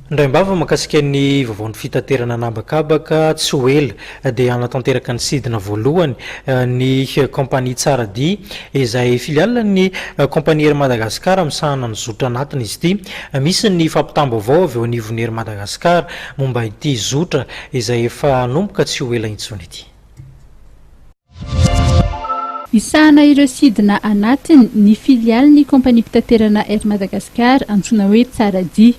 Indraim-bava makasika ny vaovaon'ny fitaterana an'habakabaka tsy ho ela dia hanatanteraka ny sidina voalohany ny kaompania Tsara Dia izay filialin'ny kaompania Air Madagascar misahana ny zotra anatiny izy ity. Misy ny fampitam-baovao avy eo anivon'ny Air Madagascar momba ity zotra izay efa hanomboka tsy ho ela intsony ity. Hisahana ireo sidina anatiny ny filialin'ny Kompaniam-pitaterana Air Madagascar antsoina hoe Tsaradia.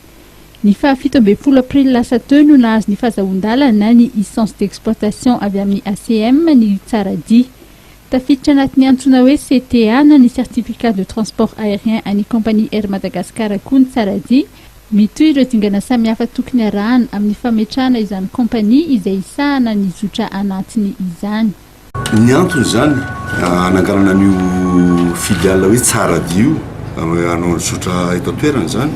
Ny faha fito ambin'ny folo aprily lasa teo no nahazo ny fahazahoan-dalana ny licence d'exploitation avy amin'ny ACM ny Tsaradia. Tafiditra anatin'ny antsoina hoe CTA na ny Certificat de Transport Aérien an'ny Kompania Air Madagascar koa ny Tsaradia, Mitohy ireo dingana samihafa tokony arahana amin'ny fametrahana izany kaompania izay hisahana ny zotra anatiny izany. Ny antony izany hananganana an'io filiale hoe Tsaradia io hanao ny zotra eto an-toerana izany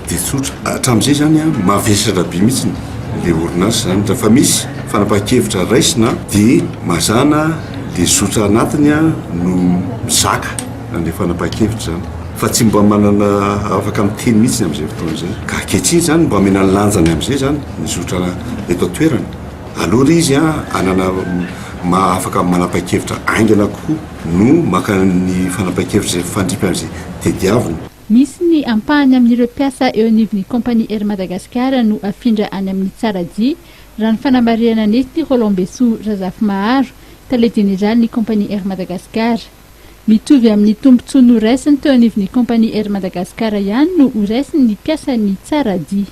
dia tsotra, hatramin'izay izany mavesatra be mihitsy ilay orinasa izany, raha efa misy fanapahan-kevitra raisina dia mazàna ilay zotra anatiny no mizaka. nandeha fanapahan-kevitra izany fa tsy mba manana afaka miteny mihitsy ny amin'izay fotoana izay ka ankehitriny izany mba omena ny lanjany amin'izay izany ny zotra eto an-toerana aloha ry izy an hanana maha afaka manapahan-kevitra haingana kokoa no maka ny fanapahan-kevitra izay mifandripy amin'izay tediaviny. Misy ny ampahany amin'ireo mpiasa eo anivon'ny Compagnie Air Madagascar no afindra any amin'ny Tsaradia, raha ny fanamarihanan'ity Rolland Besoa Razafimaharo, tale jeneralin'ny Compagnie Air Madagascar. Mitovy amin'ny tombontsoa noraisiny teo anivon'ny Kaompania Air Madagascar ihany no ho raisin'ny mpiasa ny tsara dia.